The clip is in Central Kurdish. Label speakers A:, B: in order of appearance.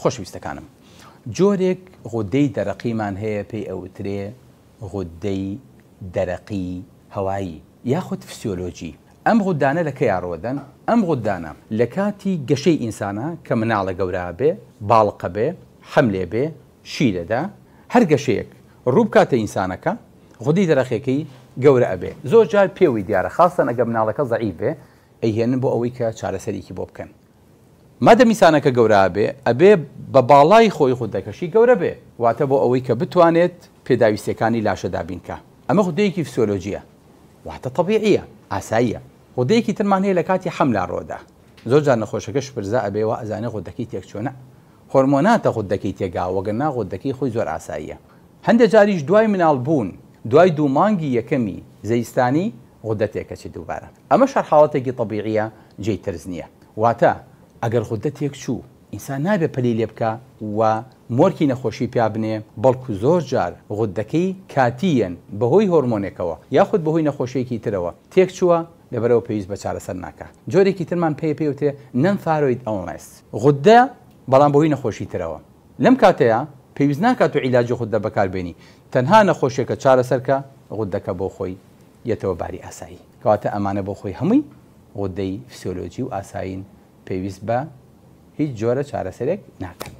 A: خۆشەویستەکانم جۆرێک غودەی دەرەقیمان هەیە پێی ئەوترێ غودەی دەرەقی هەوایی یاخود فسیۆلۆجی ئەم غودانە لە کەیا ڕوەدەن ئەم غودانە لە کاتی گەشەی ئینسانا کە مناڵە گەورە بێ باڵقە بێ حەملێ بێ شیرەدا هەر گەشەیەک ڕوو بکاتە ئینسانەکە غودەی دەرەقیەکەی گەورە ئەبێ زۆر جار پێوەی دیارە خاستەن ئەگەر مناڵەکە زەعیف بێ ئەیهێنن بۆ ئەوەی کە چارەسەرێکی بۆ بکەن مادەم ئیسانەکە گەورە ئەبێ، ئەبێ بە باڵای خۆی غودەکەشی گەورە بێ، واتە بۆ ئەوەی کە بتوانێت پێداویستیەکانی لاشە دابین کا. ئەمە غودەیەکی فسیۆلۆجیە، واتە تەبیعیە، ئاساییە. غودەیەکی ترمان هەیە لە کاتی حەملا رۆدا، زۆر جار نەخۆشەکە شپرزە ئەبێ وا ئەزانێ غودەکەی تێکچوە نە هۆرمۆناتە غودەکەی تێگا وەگەرنا غودەکەی خۆی زۆر ئاساییە. هەندێ جاریش دوای مناڵ بوون، دوای دوو مانگی یەکەمی زیستانی غودە تێکەچێ دووبارە. ئەمەش هەر حاڵەتێکی تەبیعییە جێی ترس نییە. واتە ئەگەر غوددە تێکچوو، ئینسان نابێت پەلی لێ بکا و مۆرکی نەخۆشی پیا بنێ، بەڵکو زۆر جار غوددەکەی کاتییەن بەهۆی هۆرمۆنێکەوە یاخود بەهۆی نەخۆشییەکی ترەوە تێکچووە، لەبەرئەوە پێویست بە چارەسەر ناکا. جۆرێکی ترمان پێ پێوترێ نەنفارۆید ئێڵنێس، غوددە بەڵام بەهۆی نەخۆشی ترەوە. لەم کاتەیا پێویست ناکا تۆ عیلاجی غوددە بەکار بێنی، تەنها نەخۆشییەکە چارەسەر کە، غوددەکە بۆ خۆی یەتەوە باری ئاسایی کەواتە ئەمانە بۆ خۆی هەمووی غودەی فسیۆلۆجی و ئاسایین پێویست بە هیچ جۆرە چارەسەرێک ناکات.